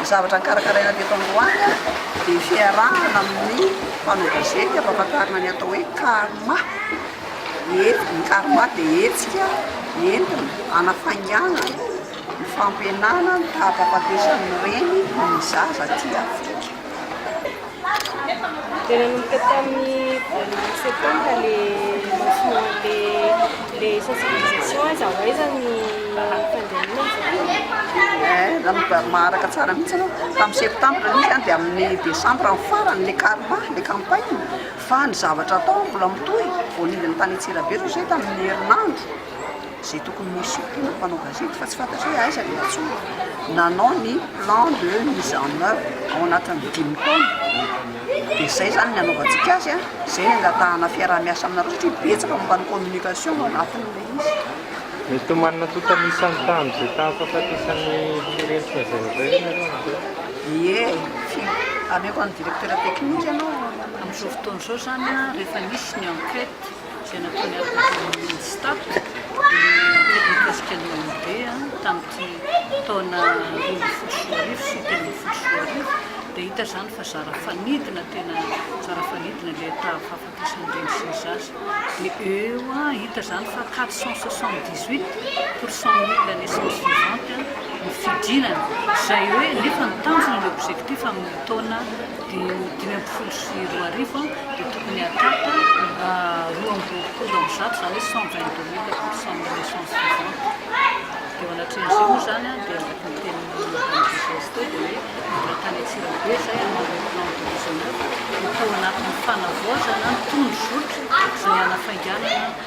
Ny zavatra nikarakaraina teto androany dia fiarahana amin'ny mpanao gazety hampahafantarina ny atao hoe karma. Ny karma dia hetsika entina hanafaingana ny fampihenana ny taham-pahafatesan'ny reny ny zaza aty Afrika. Dia nanomboka tamin'ny voalohan'ny septembre le lancement le le sensibilisation hoe aiza ho aiza ny fandrianana ny zokiko. Eh, raha maharaka tsara mihitsy ianao, tamin'ny septembre aloha izany dia amin'ny décembre ny farany ilay karma, ilay campagne, fa ny zavatra atao mbola mitohy, voanidin'ny tany Antsirabe izao izay tamin'ny herinandro. izay tokony ho sortina ny mpanao gazety fa tsy fantatra hoe aiza ilay antsoina, nanao ny plan de mise en oeuvre ao anatin'ny dimy taona, dia izay izany ny hanaovantsika azy an, izay ny hangatahana fiaraha-miasa aminareo satria betsaka momba ny communication ao anatin'ilay izy. Mety ho manana tokana isan'ny tany izay taha-fahafatesan'ny firenitra izay nandray ve ianareo amin'izao? Ie, ameko an'ny directeur technique aloha amin'izao fotoana izao izany an, rehefa misy ny enquete. izay nataony avy ny tamin'ny Minstap dia tena mikasika ny OMD tamin'ity taona roa ambin'ny folo sy roa arivo sy telo ambin'ny folo sy roa arivo dia hita izany fa zara fanidina tena zara fanidina ilay taha fahafatesan'ny reny sy ny zaza dia eo a hita izany fa 478 pour cent mille la naissance vivante ny fidinana izay hoe nefa ny tanjona ny objectif amin'ny taona Dia ho dimy ambin'ny folo sy roa arivo dia tokony hahatapa roa amby roapolo amby zato izany hoe cent vingt deux mille pour cent ny naissance vivante. Dia eo anatrehan'izay moa izany dia araka ny tenin'i Madame Désirée teo dia hoe mbola tany Antsirabe izay hanao ilay plan de maison neuve dia tao anatin'ny fanavaozana ny tondro zotra sy ny hanafainganana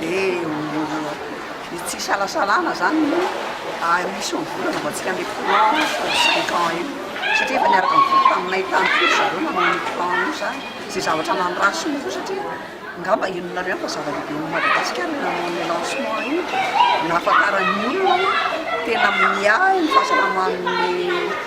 Dia ny tsy isalasalana izany moa ary misy eo amin'ny volana vao antsika handeha courant pour cinq ans io satria efa niaraka nivory taminay tany koa ry zareo nanao an'io courant io izany. Izay zavatra nandràsiny koa satria angamba henonareo ihany fa zava-dehibe ho an'i Madagasikara io nanao an'io lancement io, nahafantaran'ny olona hoe tena miahy ny fahasalaman'ny.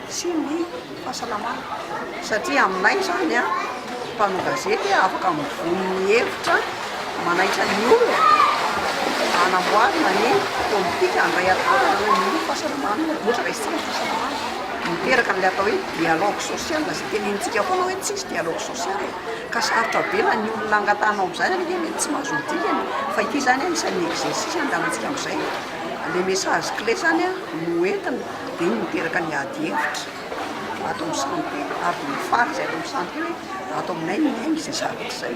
sy ny fahasalamana satria aminay izany a mpanao gazety afaka mivono ny hevitra manaitra ny olona hanamboarana ny politika handray antanana eo amin'ny fahasalamana ohatra hoe resaka ny fahasalamana miteraka an'ilay atao hoe dialogue social izay tenenintsika foana hoe tsisy dialogue social ka sarotra be na ny olona angatahana amin'izany ary anie mety tsy mahazo ny dikany fa ity izany anisan'ny exercice andalantsika amin'izay ilay message clé izany a no entina dia iny miteraka ny ady hevitra ato amin'ny santé ary dia mifaly izay ato amin'ny santé hoe ato aminay no miaina izay zavatra izay.